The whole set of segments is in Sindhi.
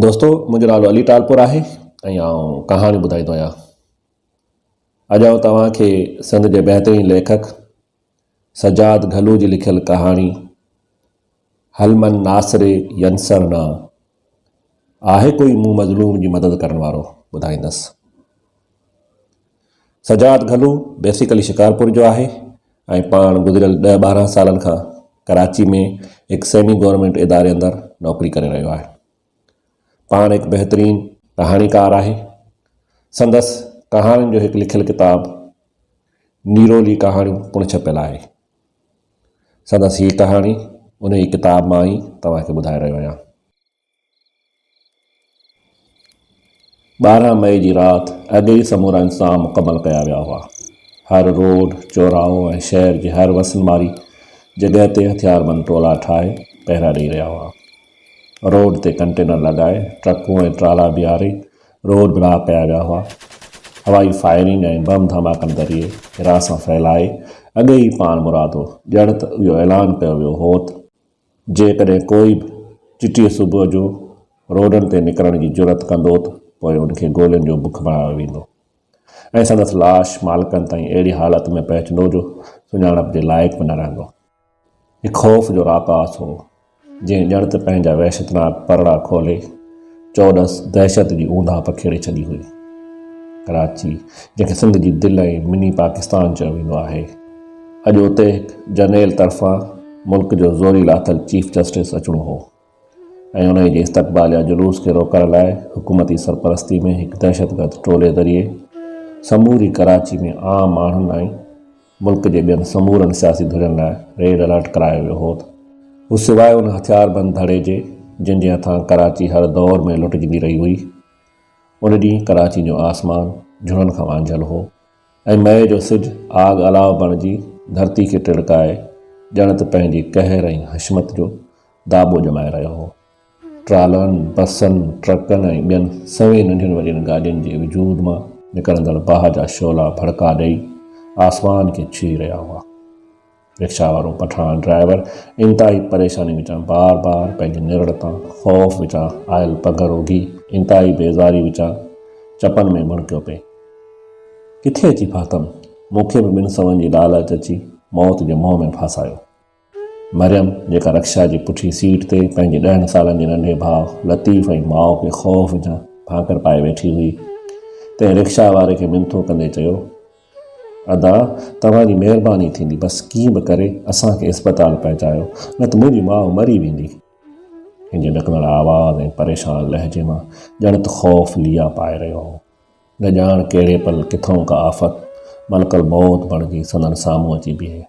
دوستو منهنجو نالو علي ٽالپور آهي ۽ آئون ڪهاڻيون ٻڌائيندو آهيان اڄ آئون توهان کي سنڌ جي بهترين ليکڪ سجاد گهلو جي لکيل ڪهاڻي هلمن ناصري ينسر نا آهي ڪوئي مون مظلوم جي مدد ڪرڻ وارو ٻڌائيندس سجاد گهلو بيسيڪلي شڪارپور جو آهي ۽ پاڻ گذريل ڏهه ٻارهن سالن کان ڪراچي ۾ هڪ سيمي گورنمينٽ اداري اندر نوڪري ڪري رهيو آهي. پاڻ هڪ بهترين ڪهاڻيڪار آهي. سندس ڪهاڻين جو هڪ لکيل ڪتاب نيرولي ڪهاڻيون پڻ ڇپيل آهي. سندس هي ڪهاڻي انهي ڪتاب مان ئي توهان کي ٻڌائي رهيو آهيان. ٻارهن مئي جي رات اڳ ئي سمورا انتظام مڪمل ڪيا ويا هئا. هر روڊ، چوراهو ۽ شهر جي هر وسن واري جڳهه تي هٿياربند ٽولا ٺاهي پهرا ڏئي رهيا هئا. روڊ تي ڪنٽينر لڳائي، ٽرڪون ۽ ٽرالا بيهاري روڊ بلاڪ ڪيا ويا هئا. هوائي فائرنگ ۽ بم ڌماڪن ذريعي هراسان ڦهلائي اڳ ئي پاڻمرادو ڄڻ ته اهو اعلان ڪيو ويو هوت جيڪڏهن ڪوئي به چٽيء صبح جو روڊن تي نڪرڻ جي جرئت ڪندو ته پوء ان کي گولين جو بک بڻايو ويندو ۽ سندس لاش مالڪن تائين اهڙي حالت ۾ پهچندو جو سڃاڻپ جي لائق به نه رهندو. هي خوف جو راڪاس هو، جنهن ڄڻ ته پنهنجا وحشتناڪ پرڙا کولي، چورس دهشت جي اونداهه پکيڙي ڇڏي هئي. ڪراچي، جنهن کي سنڌ جي دل ۽ مني پاڪستان چيو ويندو آهي، اڄ اتي هڪ جرنيل طرفان ملڪ جو زوري لاٿل چيف جسٽس اچڻو هو ۽ انهي جي استقبال يا جلوس کي روڪڻ لاء حڪومتي سرپرستي ۾ هڪ دهشتگرد ٽولي ذريعي سموري ڪراچي ۾ عام ماڻهن ۽ ملڪ جي ٻين سمورن سياسي ڌرين لاء ريڊ الرٽ ڪرايو ويو هو ته هو سواء ان هٿياربند ڌڙي جي جن جي هٿان ڪراچي هر دور ۾ لٽجندي رهي هئي. ان ڏينهن ڪراچي جو آسمان جھڙن کان وانجھيل هو ۽ مئي جو سج آگ الاء بڻجي ڌرتي کي ٽڙڪائي ڄڻ ته پنهنجي قهر ۽ حشمت جو داٻو ڄمائي رهيو هو. ٽرالن، بسن، ٽرڪن ۽ ٻين سوين ننڍين وڏين گاڏين جي وجود مان نڪرندڙ باهه جا شعلا ڀڙڪا ڏئي آسمان کي ڇهي رهيا هئا. رڪشا وارو پٺاڻ ڊرائيور انتهائي پريشاني وچان بار بار پنهنجي نرڙ تان خوف وچان آيل پگهر اگهي انتهائي بيزاري وچان چپن ۾ ڀڻڪيو پئي. ڪٿي اچي ڦاٿم، مون کي به ٻن سون جي لالچ اچي موت جي منهن ۾ ڦاسايو. مريم جيڪا رڪشا جي پٺين سيٽ تي پنهنجي ڏهن سالن جي ننڍي ڀاء لطيف ۽ ماء کي خوف وجهان ڀانڪر پائي ويٺي هئي، تنهن رڪشا واري کي منٿون ڪندي چيو، ادا توهان جي مهرباني ٿيندي بس ڪيئن به ڪري اسان کي اسپتال پهچايو نه ته منهنجي ماء مري ويندي. هن جي ڏڪندڙ آواز ۽ پريشان لهجي مان ڄڻ ته خوف ليئا پائي رهيو هو. نه ڄاڻ ڪهڙي پل ڪٿئون ڪا آفت ملڪ الموت بڻجي سندن سامهون اچي بيهي.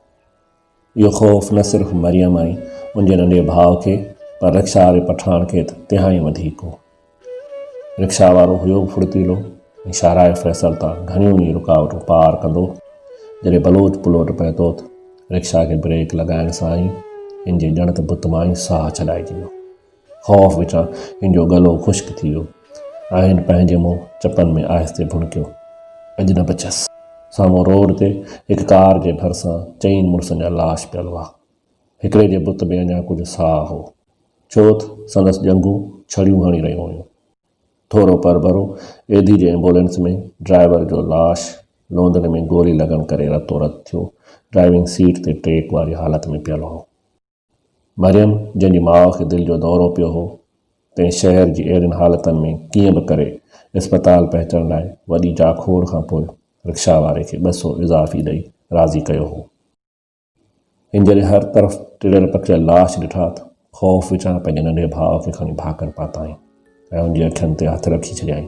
اهو خوف نه صرف مريم ۽ ان جي ننڍي ڀاء کي پر رڪشا واري پٺاڻ کي ته تهائين وڌيڪ هو. رڪشا وارو هيو به ڦڙتيلو ۽ شاهراهه فيصل تان گهڻيون ئي رڪاوٽون پار ڪندو. جڏهن بلوچ پلوٽ پهتوت رڪشا کي بريڪ لڳائڻ سان ئي هن جي ڄڻ ته بت مان ئي ساهه ڇڏائجي ويو. خوف وچان هن جو ڳلو خشڪ ٿي ويو ۽ هن پنهنجي منهن چپن ۾ آهستي ڀڻڪيو. اڄ نه بچيس. سامهون روڊ تي هڪ ڪار جي ڀرسان چئن مڙسن جا لاش پيل هئا. هڪڙي جي بت ۾ اڃا ڪجهه ساهه هو. ڇو تھ سندس ڄنگهون ڇڙيون هڻي رهيون هيون. ٿورو پرڀرو ايڌي جي ايمبولينس ۾ ڊرائيور جو لاش لوندن ۾ گولي لڳڻ ڪري رتو رت ٿيو ڊرائيونگ سيٽ تي ٽيڪ واري حالت ۾ پيل هو. مريم جنهن جي ماء کي دل جو دورو پيو هو، تنهن شهر جي اهڙين حالتن ۾ ڪيئن به ڪري اسپتال پهچڻ لاء وڏي جاکوڙ کان پوء رڪشا واري کي ٻه سو اضافي ڏئي راضي ڪيو هو. هن جڏهن هر طرف ٽڙيل پکڙيل لاش ڏٺا ته خوف وچان پنهنجي ننڍي ڀاء کي کڻي ڀاڪر پاتائين. ۽ هن جي اکين تي هٿ رکي ڇڏيائين.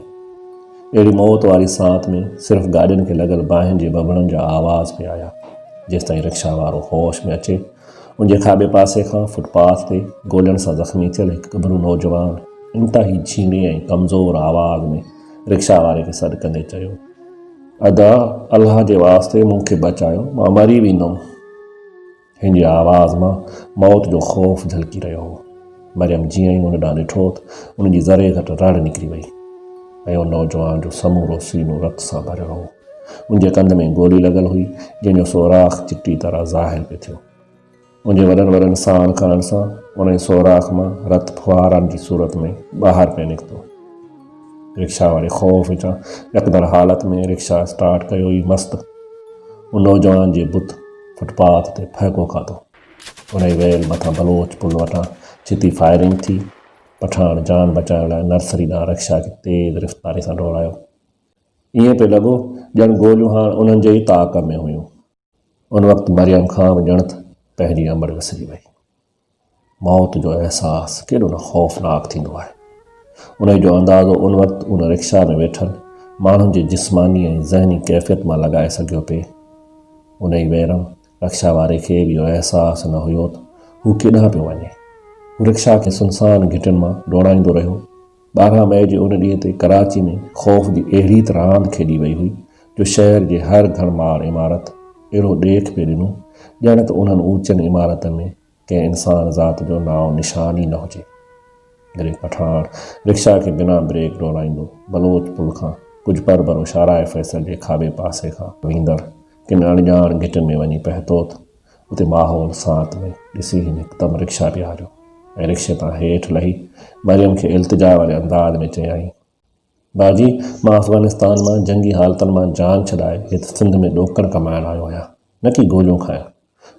اهڙي موت واري ساعت ۾ صرف گاڏين کي لڳل باهين جي ٻٻڙن جا آواز پئي آيا. جيستائين رڪشا وارو هوش ۾ اچي، ان جي کاٻي پاسي کان فٽ پاٿ تي گولين سان زخمي ٿيل هڪ ڳڀرو نوجوان انتهائي جهيڻي ۽ ڪمزور آواز ۾ رڪشا واري کي سڏ ڪندي چيو، ادا! الله جي واسطي مون کي بچايو، مان مري ويندم. هن جي آواز مان موت جو خوف جهلڪي رهيو هو. مريم جيئن ئي هن ڏانهن ڏٺو ته ان جي ذري گهٽ رڙ نڪري وئي ۽ ان نوجوان جو سمورو سينو رت سان ڀريل هو. ان جي ڪنڌ ۾ گولي لڳل هئي، جنهن جو سوراخ چٽي طرح ظاهر پئي ٿيو. ان جي وڏن وڏن ساڻ کڻڻ سان انهيء سوراخ مان رت ڦوهارن جي صورت ۾ ٻاهر پئي نڪتو. رڪشا واري خوف وچان ڏڪندڙ حالت ۾ رڪشا اسٽارٽ ڪيو ئي مست ان نوجوان جي بت فٽ پاٿ تي ڦهڪو کاڌو. انهي ويل مٿان بلوچ پل وٽان ڇتي فائرنگ ٿي. پٺاڻ جان بچائڻ لاء نرسري ڏانهن رڪشا کي تيز رفتاري سان ڊوڙايو. ائين پئي لڳو ڄڻ گوليون هاڻ انهن جي ئي طاق ۾ هيون. ان وقت مريم کان به ڄڻ ته پنهنجي امڙ وسري وئي. موت جو احساس ڪيڏو نه خوفناڪ ٿيندو آهي. انهي جو اندازو ان وقت ان رڪشا ۾ ويٺل ماڻهن جي جسماني ۽ ذهني ڪيفيت مان لڳائي سگهيو پئي. انهي ويرم رڪشا واري کي به اهو احساس نه هيوته هو ڪيڏانهن پيو وڃي. هو رڪشا کي سنسان گهٽين مان ڊوڙائيندو رهيو. ٻارهن مئي جي ان ڏينهن تي ڪراچي ۾ خوف جي اهڙي ته راند کيڏي وئي هئي جو شهر جي هر گهڻ مار عمارت اهڙو ڏيک پئي ڏنو ڄڻ ته انهن اوچين عمارتن ۾ ڪنهن انسان ذات جو نانء نشان ئي نه هجي. گري پٺاڻ رڪشا کي بنا بريڪ ڊوڙائيندو بلوچ پل کان ڪجهه پر بروشاهراهه فيصل جي کاٻي پاسي کان ويندڙ ڪن اڻڄاڻ گهٽين ۾ وڃي پهتوت اتي ماحول ساعت ۾ ڏسي هن هڪدم رڪشا بيهاريو ۽ رڪشي تان هيٺ لهي مريم کي التجا واري انداز ۾ چيائين باجي مان افغانستان مان جنگي حالتن مان جان ڇڏائي هت سنڌ ۾ ڏوڪڙ ڪمائڻ آيو آهيان نه ڪي گوليون کائڻ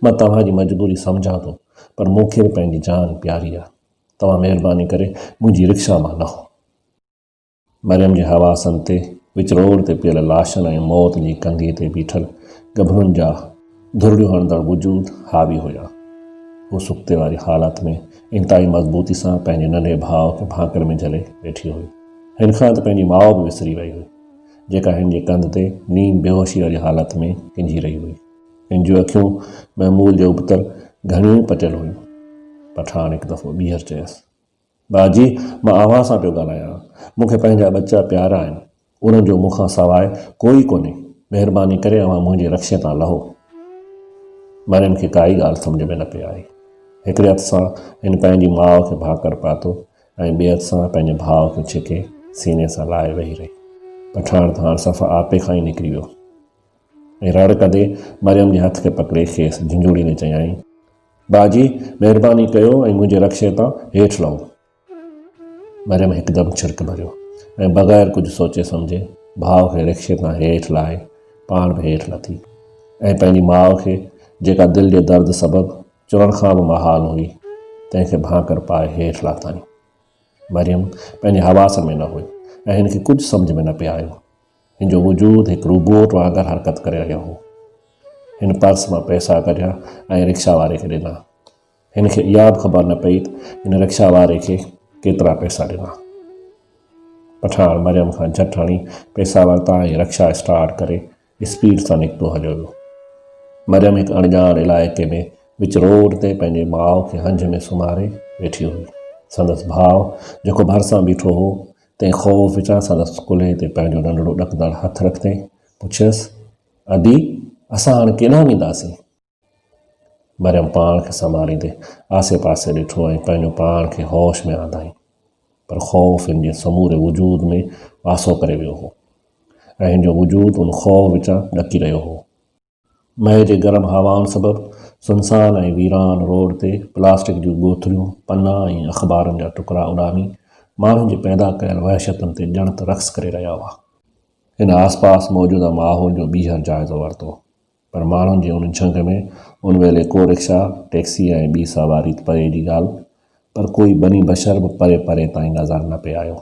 مان توهان جي مجبوري سمجهان ٿو پر مون کي به پنهنجي جان پياري آهي توهان مهرباني ڪري منهنجي رڪشا مان لهو. مريم جي حواسن تي وچ روڊ تي پيل لاشن ۽ موت جي ڪنگهي تي بيٺل ڳڀرن جا ڌرڙيون هڻندڙ وجود حاوي هيا. هوء سڪتي واري حالت ۾ انتهائي مضبوطي سان پنهنجي ننڍي ڀاء کي ڀانڪڙ ۾ جهلي ويٺي هئي. هن کان ته پنهنجي ماء به وسري وئي هئي، جيڪا هن جي ڪنڌ تي نيم بيهوشي واري حالت ۾ ڪنجهي رهي هئي. هن جون اکيون معمول جي ابتر گهڻيون ئي پٽيل هيون. پٺاڻ هڪ دفعو ٻيهر چيس. ڀاء جي، مان اوهان سان پيو ڳالهايان. مون کي پنهنجا ٻچا پيارا آهن. انهن جو مون کان سواء ڪو ئي ڪونهي. مهرباني ڪري اوهان منهنجي رڪشي تان لهو. مريم کي ڪائي ڳالهه سمجهه ۾ نه پئي آئي. هڪڙي هٿ سان هن پنهنجي ماء کي ڀاڪر پاتو ۽ ٻئي هٿ سان پنهنجي ڀاء کي ڇڪي سيني سان لائي ويهي رهي. پٺاڻ ته هاڻ صفا آپي کان ئي نڪري ويو ۽ رڙ ڪندي مريم جي هٿ کي پڪڙي کيس جهنجهوڙيندي چيائين. ڀاء جي، مهرباني ڪيو ۽ منهنجي رڪشي تان هيٺ لهو. مريم هڪدم ڇرڪ ڀريو ۽ بغير ڪجهه سوچي سمجهي ڀاء کي رڪشي تان هيٺ لاهي پاڻ به هيٺ لٿي ۽ پنهنجي ماء کي جيڪا دل جي درد سبب چوڻ کان به محال هئي تنهن کي ڀانڪر پائي هيٺ لاٿائين. مريم پنهنجي حواس ۾ نه هئي ۽ هن کي ڪجهه سمجهه ۾ نه پئي آيو. هن جو وجود هڪ روبوٽ وانگر حرڪت ڪري رهيو هو. هن پرس مان پئسا ڪڍيا ۽ رڪشا واري کي ڏنا. هن کي اها به خبر نه پئي ته هن رڪشا واري کي ڪيترا پئسا ڏنا. پٺاڻ مريم کان جهٽ هڻي پئسا ورتا ۽ رڪشا اسٽارٽ ڪري اسپيڊ سان نڪتو هليو ويو. مريم هڪ اڻڄاڻ علائقي ۾ وچ روڊ تي پنهنجي ماء کي هنج ۾ سمهاري ويٺي هئي. سندس ڀاء جيڪو ڀرسان بيٺو هو تنهن خوف وچان سندس ڪلهي تي پنهنجو ننڍڙو ڏڪندڙ هٿ رکندي پڇيس، ادي، اسان هاڻ ڪيڏانهن وينداسين؟ مريم پاڻ کي سنڀاليندي آسي پاسي ڏٺو ۽ پنهنجو پاڻ کي هوش ۾ آندائين. پر خوف هن جي سموري وجود ۾ واسو ڪري ويو هو ۽ هن جو وجود ان خوف وچان ڏڪي رهيو هو. مئي جي گرم هوائن سبب سنسان ۽ ويران روڊ تي پلاسٽڪ جون ٻوتليون، پنا ۽ اخبارن جا ٽڪرا اڏامي ماڻهن جي پيدا ڪيل وحشتن تي ڄڻ ته رقص ڪري رهيا هئا. هن آس پاس موجوده ماحول جو ٻيهر جائزو ورتو پر ماڻهن جي ان جهنگ ۾ ان ويلي ڪو رڪشا، ٽيڪسي ۽ ٻي سواري ته پري جي ڳالهه پر ڪوئي بني بشر به پري پري تائين نظر نه پئي آيو.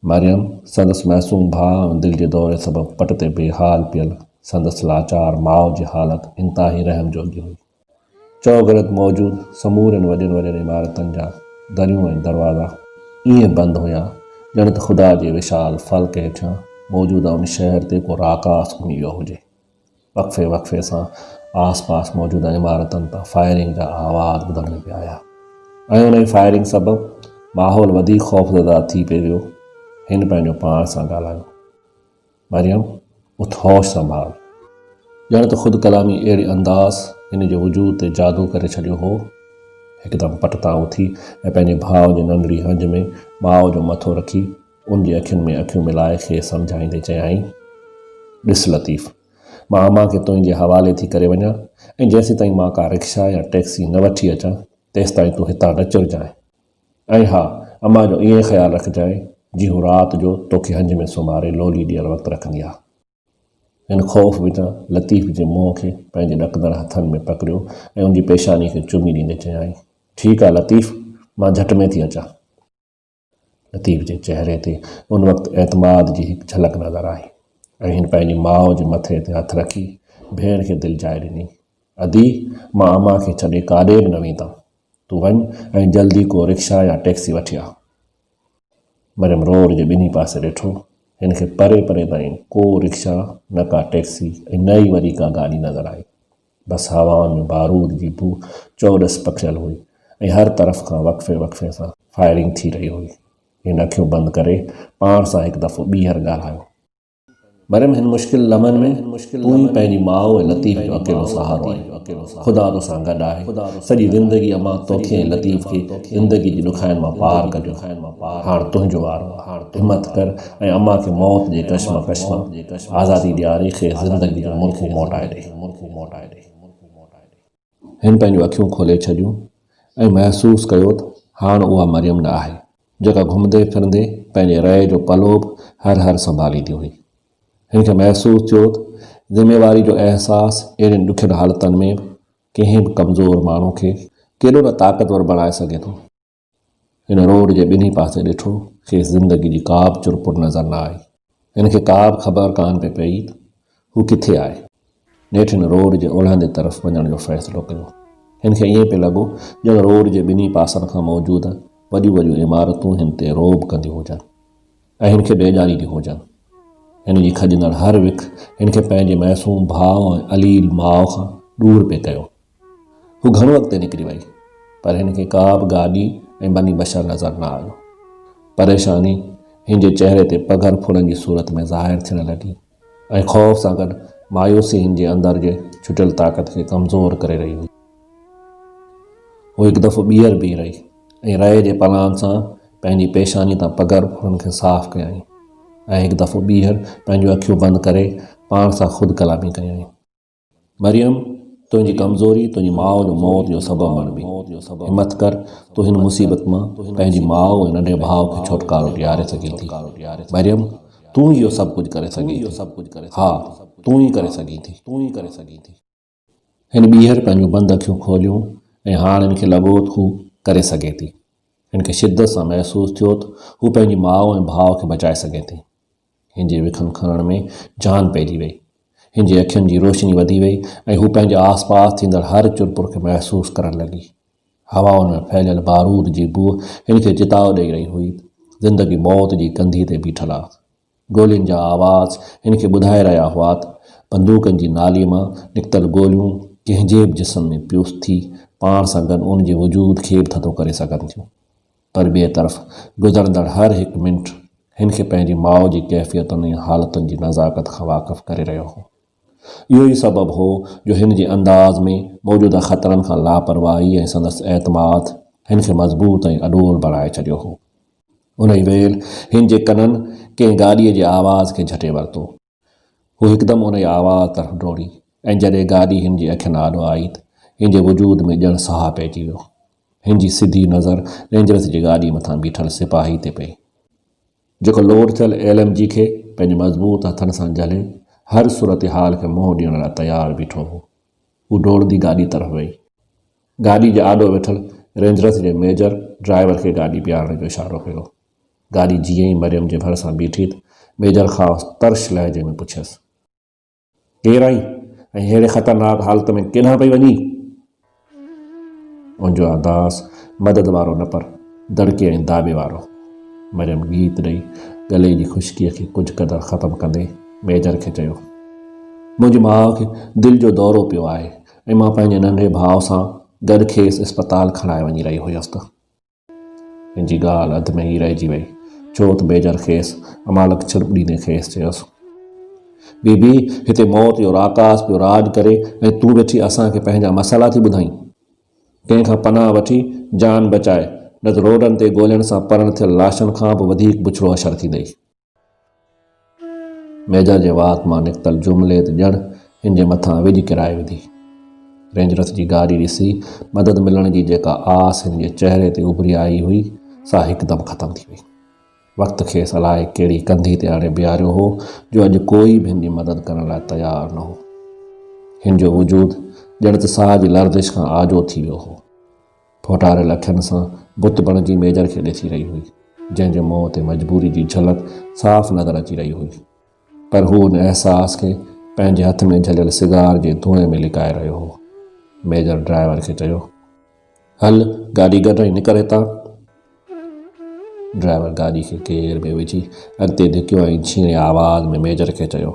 مريم، سندس معصوم ڀاء ۽ دل جي دوري سبب پٽ تي بي حال پيل سندس لاچار ماء جي حالت انتهائي رحم جوڳي هئي. چؤگرد موجود سمورين وڏين وڏين عمارتن جا دريون ۽ دروازا ائين بند هيا، ڄڻ ته خدا جي وشال فلڪ هيٺيان موجوده ان شهر تي ڪو راڪاس گهمي ويو هجي. وقفي وقفي سان آس پاس موجود عمارتن تان فائرنگ جا آواز ٻڌڻ ۾ پيا آيا ۽ انهي فائرنگ سبب ماحول وڌيڪ خوفزده ٿي پئي ويو هن پنهنجو پاڻ سان ڳالهايو مريم اٿ هوش سنڀال ڄڻ ته خود ڪلامي اهڙي انداز هن جي وجود تي جادو ڪري ڇڏيو هو هڪدم پٽ تان اٿي ۽ پنهنجي ڀاء جي ننڍڙي هنج ۾ ماء جو مٿو رکي ان جي اکين ۾ اکيون ملائي کيس سمجهائيندي چيائين، ڏس لطيف! مان امان کي تنهنجي حوالي ٿي ڪري وڃان ۽ جيسيتائين مان ڪا رڪشا يا ٽئڪسي نه وٺي اچان تيستائين تون هتان نه چرجانء ۽ ها امان جو ائين خيال رکجانء جي هو رات جو توکي هنج ۾ سمهاري لولي ڏيڻ وقت رکندي آ. هن خوف وچان لطيف جي منهن کي پنهنجي ڏڪندڙ هٿن ۾ پڪڙيو ۽ ان جي پيشاني کي چمي ڏيندي چيائين، ٺيڪ آ لطيف! مان جهٽ ۾ ٿي اچان. لطيف جي چهري تي ان وقت اعتماد جي هڪ جهلڪ نظر آئي ۽ هن پنهنجي ماء جي مٿي تي هٿ رکي ڀيڻ کي دلجائي ڏني، ادي، مان امان کي ڇڏي ڪاڏي به نه ويندم. تون وڃ ۽ جلدي ڪو رڪشا يا ٽيڪسي وٺي آ. مريم روڊ جي ٻنهي پاسي ڏٺو. هن کي پري پري تائين ڪو رڪشا، نه ڪا ٽيڪسي ۽ نه ئي وري ڪا گاڏي نظر آئي. بس هوائن ۾ بارود جي بوء چؤڏس پکڙيل هئي ۽ هر طرف کان وقفي وقفي سان فائرنگ ٿي رهي هئي. هن اکيون بند ڪري پاڻ سان هڪ دفعو ٻيهر ڳالهايو. مريم هن مشڪل لمحن ۾ تون ئي پنهنجي ماء ۽ لطيف جو اڪيلو سهارو آهين. خدا تو سان گڏ آهي. سڄي زندگي امان توکي ۽ لطيف کي زندگي جي ڏکاين مان پار ڪڍيو. هاڻ تنهنجو وارو آهي. همٿ ڪر ۽ امان کي موت جي ڪشمڪش مان آزادي ڏياري کيس زندگي جو ملڪو موٽائي ڏي. مرڪون موٽائي ڏي. هن پنهنجون اکيون کولي ڇڏيون ۽ محسوس ڪيو ته هاڻ اها مريم نه آهي، جيڪا گهمندي ڦرندي پنهنجي رئي جو پلو به هر هر سنڀاليندي هئي. هن کي محسوس ٿيو ته ذميواري جو احساس اهڙين ڏکين حالتن ۾ به ڪنهن به ڪمزور ماڻهو کي ڪيڏو نه طاقتور بڻائي سگهي ٿو. هن روڊ جي ٻنهي پاسي ڏٺو، کيس زندگي جي ڪابه چرپر نظر نه آئي. هن کي ڪابه خبر ڪانه پئي پئي ته هو ڪٿي آهي. نيٺ هن روڊ جي اولهندي طرف وڃڻ جو فيصلو ڪيو. هن کي ائين پئي لڳو ڄڻ روڊ جي ٻنهي پاسن کان موجود وڏيون وڏيون عمارتون هن تي رعب ڪنديون هجن ۽ هن کي ڊيڄارينديون هجن. هن جي کڄندڙ هر وک هن کي پنهنجي معصوم ڀاء ۽ عليل ماء کان ڏور پئي ڪيو. هو گهڻو اڳتي نڪري وئي، پر هن کي ڪا به گاڏي ۽ بني بشر نظر نه آيو. پريشاني هن جي چهري تي پگهر ڦڙن جي صورت ۾ ظاهر ٿيڻ لڳي ۽ خوف سان گڏ مايوسي هن جي اندر جي ڇٽيل طاقت کي ڪمزور ڪري رهي هئي. هو هڪ دفعو ٻيهر بيهي رهي ۽ رئي جي پلان سان پنهنجي پيشاني تان پگهر ڦڙن کي صاف ڪيائين ۽ هڪ دفعو ٻيهر پنهنجون اکيون بند ڪري پاڻ سان خود ڪلامي ڪيائين. مريم! تنهنجي ڪمزوري تنهنجي ماء جو موت جو سبب بڻبي. همٿ ڪر، تون هن مصيبت مان پنهنجي ماء ۽ ننڍي ڀاء کي ڇوٽڪارو ڏياري سگهين ٿي. مريم! تون ئي اهو سڀ ڪجهه ڪري سگهين ٿي. ها، تون ئي ڪري سگهين ٿي. هن ٻيهر پنهنجون بند اکيون کوليون ۽ هاڻ هن کي لڳو ته هو ڪري سگهي ٿي. هن کي شدت سان محسوس ٿيو ته هو پنهنجي ماء ۽ ڀاء کي بچائي سگهي ٿي. هن جي وکن کڻڻ ۾ جان پئجي وئي. هن جي اکين جي روشني وڌي وئي ۽ هو پنهنجي آس پاس ٿيندڙ هر چرپر کي محسوس ڪرڻ لڳي. هوائن ۾ ڦهليل بارود جي بوء هن کي چتاء ڏئي رهي هئي. زندگي موت جي ڪنڌيء تي بيٺل آ. گولين جا آواز هن کي ٻڌائي رهيا هئا ته بندوقن جي نالي مان نڪتل گوليون ڪنهن جي به جسم ۾ پيس ٿي پاڻ سان گڏ ان جي وجود کي به ٿڌو ڪري سگهن ٿيون. پر ٻئي طرف گذرندڙ هر هڪ منٽ هن کي پنهنجي ماء جي ڪيفيتن ۽ حالتن جي نزاڪت کان واقف ڪري رهيو هو. اهو ئي سبب هو جو هن جي انداز ۾ موجوده خطرن کان لاپرواهي ۽ سندس اعتماد هن کي مضبوط ۽ اڏول بڻائي ڇڏيو هو. انهيء ويل هن جي ڪنن ڪنهن گاڏيء جي آواز کي جهٽي ورتو. هو هڪدم ان جي آواز طرف ڊوڙي ۽ جڏهن گاڏي هن جي اکين آڏو آئي ته هن جي وجود ۾ ڄڻ ساهه پئجي ويو. هن جي سڌي نظر رينجرز جي گاڏي مٿان بيٺل سپاهي تي پئي، جيڪو لوڊ ٿيل ايل ايم جي کي پنهنجي مضبوط هٿن سان جهلي هر صورتحال کي منهن ڏيڻ لاء تيار بيٺو هو. هو ڊوڙندي گاڏي طرف وئي. گاڏي جي آڏو ويٺل رينجرز جي ميجر ڊرائيور کي گاڏي بيهارڻ جو اشارو ڪيو. گاڏي جيئن ئي مريم جي ڀرسان بيٺي ته ميجر خاص ترش لهجي ۾ پڇيس، ڪير آهين ۽ ههڙي خطرناڪ حالت ۾ ڪيڏانهن پئي وڃين؟ منهنجو احداث مدد وارو نه پر دڙڪي ۽ داٻي وارو. مريم ڳيت ڏئي ڳلي جي خشڪيء کي ڪجهه قدر ختم ڪندي ميجر کي چيو، منهنجي ماء کي دل جو دورو پيو آهي ۽ مان پنهنجي ننڍي ڀاء سان گڏ کيس اسپتال کڻائي وڃي رهي هيس ته هن جي ڳالهه اڌ ۾ ئي رهجي وئي، ڇو ته ميجر کيس امالڪ ڇرٻ ڏيندي کيس چيس، بي بي، هتي موت جو راڪاس پيو راڄ ڪري ۽ تون ويٺي اسان کي پنهنجا مسئلا ٿي ٻڌائين. ڪنهن کان پناهه وٺي جان بچاء، نه ته روڊن تي ڳولهڻ سان پرڻ ٿيل لاشن کان به وڌيڪ بڇڙو حشر ٿيندئي. ميجا جي وات مان نڪتل جملي ته ڄڻ هن جي مٿان وڄ ڪرائي وڌي. رينجرس جي گاري ڏسي مدد ملڻ جي جيڪا آس هن جي چهري تي اڀري آئي هئي، سا هڪدم ختم ٿي وئي. وقت کيس الائي ڪهڙي ڪنڌي تي آڻي بيهاريو هو جو اڄ ڪوئي به هن جي مدد ڪرڻ لاء تيار نه هو. هن جو وجود ڄڻ ته ساهه جي لرزش کان آجو ٿي ويو هو. ڦوٽاريل اکين سان بت بڻجي ميجر کي ڏسي رهي هئي، جنهن جي منهن تي مجبوري جي جهلڪ صاف نظر اچي رهي هئي. پر هو ان احساس کي پنهنجي هٿ ۾ جهليل سگار جي ڌوئين ۾ لڪائي رهيو هو. ميجر ڊرائيور کي چيو، هل گاڏي ڪڍ ۽ نڪر هتان. ڊرائيور گاڏي کي گيئر ۾ وجهي اڳتي ڌڪيو ۽ ڇيڻي آواز ۾ ميجر کي چيو،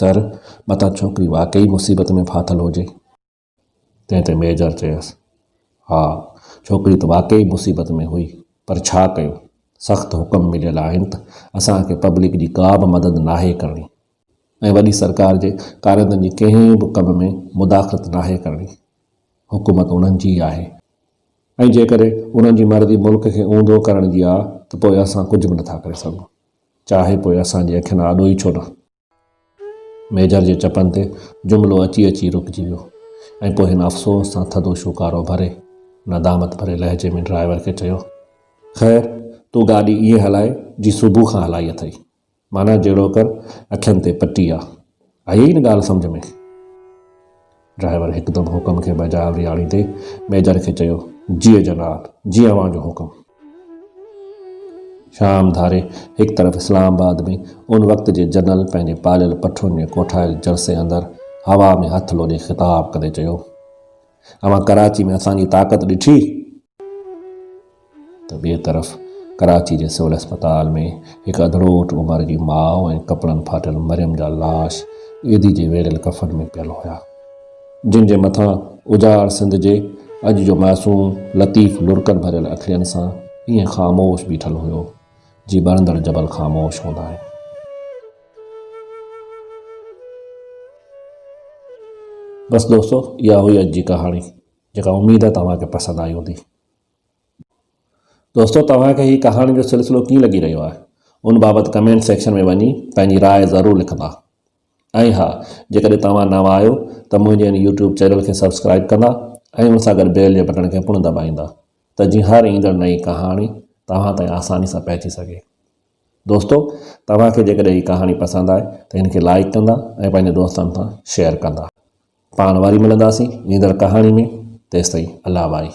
سر، متان ڇوڪري واقعي مصيبت ۾ ڦاٿل هجي. تنهن تي ميجر چيس، ها، ڇوڪري ته واقعي مصيبت ۾ هئي، پر ڇا ڪيو؟ سخت حڪم مليل آهن ته اسان کي پبلڪ جي ڪا به مدد ناهي ڪرڻي ۽ وڏي سرڪار جي ڪارندن جي ڪنهن به ڪم ۾ مداخلت ناهي ڪرڻي. حڪومت انهن جي ئي آهي ۽ جيڪڏهن انهن جي مرضي ملڪ کي اونڌو ڪرڻ جي آ ته پوء اسان ڪجهه به نٿا ڪري سگهون، چاهي پوء اسان جي اکين آڏو ئي ڇو نه. ميجر جي چپن تي جملو اچي اچي رڪجي ويو ۽ پوء هن افسوس سان ٿڌو شوڪارو ڀري ندامت ڀري لهجي ۾ ڊرائيور کي چيو، خير، تون گاڏي ائين هلائي جيئن صبح کان هلائي اٿئي. معنيٰ جهڙوڪر اکين تي پٽي آ. آيئي نه ڳالهه سمجهه ۾؟ ڊرائيور هڪدم حڪم کي بجاءوري آڻيندي ميجر کي چيو، جيء جناب، جيئن اوهان جو حڪم. شام ڌاري هڪ طرف اسلام آباد ۾ ان وقت جي جنرل پنهنجي پاليل پٺون ۾ ڪوٺايل جرسي اندر هوا ۾ هٿ لوڏي خطاب ڪندي چيو، اوهان ڪراچي ۾ اسان جي طاقت ڏٺي؟ ته ٻئي طرف ڪراچي جي سول اسپتال ۾ هڪ اڌڙوٽ عمر جي ماء ۽ ڪپڙن ڦاٽل مريم جا لاش عيدي جي ويڙهيل ڪفن ۾ پيل هيا جن جي مٿان اجاڙ سنڌ جي اڄ جو معصوم لطيف لڙڪن ڀريل اکڙين سان ائين خاموش بيٺل هيو جي ٻرندڙ جبل خاموش هوندا آهن. بس دوستو اها هئي اڄ جي ڪهاڻي جيڪا اميد آهي توهان کي پسند آئي هوندي. دوستو توهان کي هي ڪهاڻين جو سلسلو ڪيئن لڳي رهيو آهي ان بابت ڪمينٽ سيڪشن ۾ وڃي پنهنجي راء ضرور لکندا ۽ ها جيڪڏهن توهان نوان آهيو ته منهنجي ان يوٽيوب چينل کي سبسڪرائب ڪندا ۽ ان سان گڏ بيل جي بٽڻ کي پڻ دٻائيندا ته جيئن هر ايندڙ نئين ڪهاڻي توهان تائين آساني سان پهچي سگهي دوستو توهان کي جيڪڏهن هي ڪهاڻي پسند آئي ته هن کي لائڪ ڪندا ۽ پنهنجي دوستن سان شيئر ڪندا پاڻ وري ملنداسين ايندڙ ڪهاڻي ۾ تيستائين الله واري